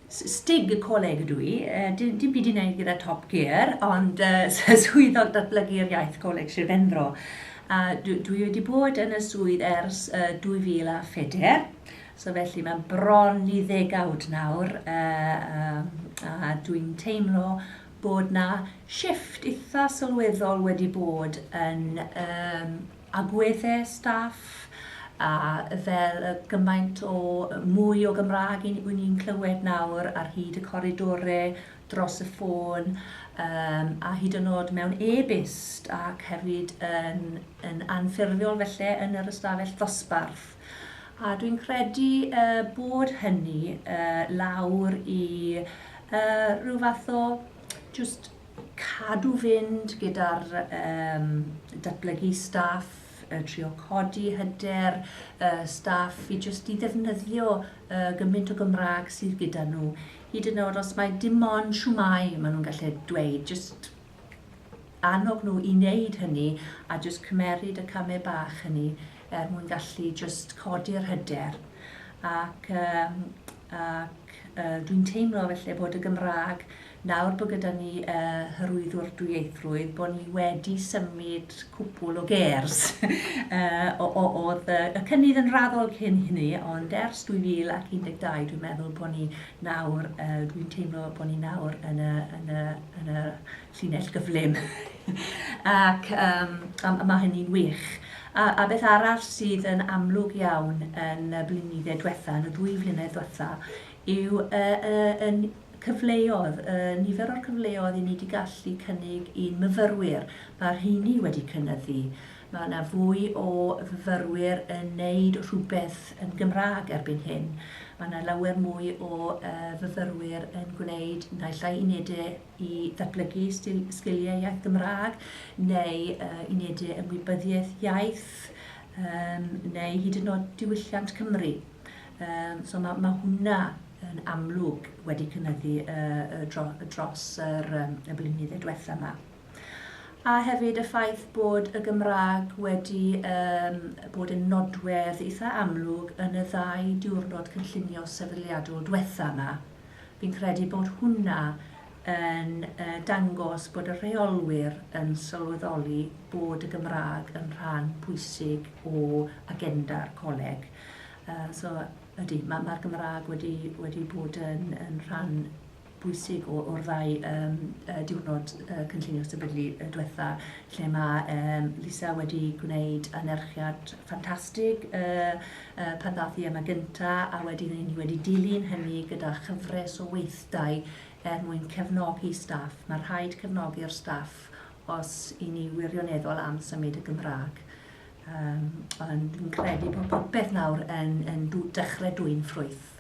Stig y coleg ydw i, uh, dim, dim byd i wneud gyda Top Gear, ond uh, swyddog datblygu'r iaith coleg Sir Benfro. Uh, dwi wedi bod yn y swydd ers uh, 2004, So felly mae'n bron i ddegawd nawr a dwi'n teimlo bod 'na shifft eitha' sylweddol wedi bod yn yym agweddau staff a fel y gymaint o mwy o Gymraeg i- wy' ni'n clywed nawr ar hyd y coridore, dros y ffôn yym a hyd yn o'd mewn e-byst ac hefyd yn yn anffurfiol felly yn yr ystafell ddosbarth. A dwi'n credu bod hynny lawr i ryw fath o jyst cadw fynd gyda'r datblygu staff, trio codi hyder staff i jyst i ddefnyddio gymaint o Gymraeg sydd gyda nhw, hyd yn oed os mai dim ond shwmae maen nhw'n gallu dweud, jyst... annog nhw i wneud hynny a jyst cymeryd y camau bach hynny er mwyn gallu jyst codi'r hyder. Ac, um, ac uh, dwi'n teimlo felly bod y Gymraeg, nawr bod gyda ni uh, hyrwyddwr dwyieithrwydd, bod ni wedi symud cwpl o gers. uh, oedd y, y cynnydd yn raddol cyn hynny, ond ers 2012 dwi'n meddwl bod ni nawr yy dwi'n teimlo bod ni nawr yn y yn y yn y llinell gyflym ac yym a ma' hynny'n wych. A a beth arall sydd yn amlwg iawn yn y blinydde dwetha, yn y ddwy flynedd dwetha, yw y y y n- cyfleodd, y nifer o'r cyfleodd 'yn ni 'di gallu cynnig i'n myfyrwyr. Ma'r rheiny wedi cynyddu. Mae yna fwy o fyfyrwyr yn neud rhywbeth yn Gymraeg erbyn hyn. Mae yna lawer mwy o fyfyrwyr yn gwneud naill ai unede i ddatblygu sgiliau iaith Gymraeg neu unede ymwybyddiaeth iaith neu hyd yn oed diwylliant Cymru. So mae hwnna yn amlwg wedi cynyddu dros y blynyddau diwethaf 'ma. A hefyd y ffaith bod y Gymraeg wedi um, bod yn nodwedd eitha amlwg yn y ddau diwrnod cynllunio sefydliadol diwetha yma. Fi'n credu bod hwnna yn uh, dangos bod y rheolwyr yn sylweddoli bod y Gymraeg yn rhan pwysig o agenda'r coleg. Uh, so, ydy, mae'r ma Gymraeg wedi, wedi bod yn, yn rhan bwysig o o'r ddau yym yy diwrnod yy cynllunio sefydlu yy dwetha lle mae yym Lisa wedi gwneud anerchiad ffantastig yy yy pan ddath i yma gynta a wedyn i ni wedi dilyn hynny gyda chyfres o weithdai er mwyn cefnogi staff. Mae rhaid cefnogi'r staff os i ni wirioneddol am symud y Gymraeg. Um, ond dwi'n credu bod popeth nawr yn, yn dw, dechrau dwy'n ffrwyth.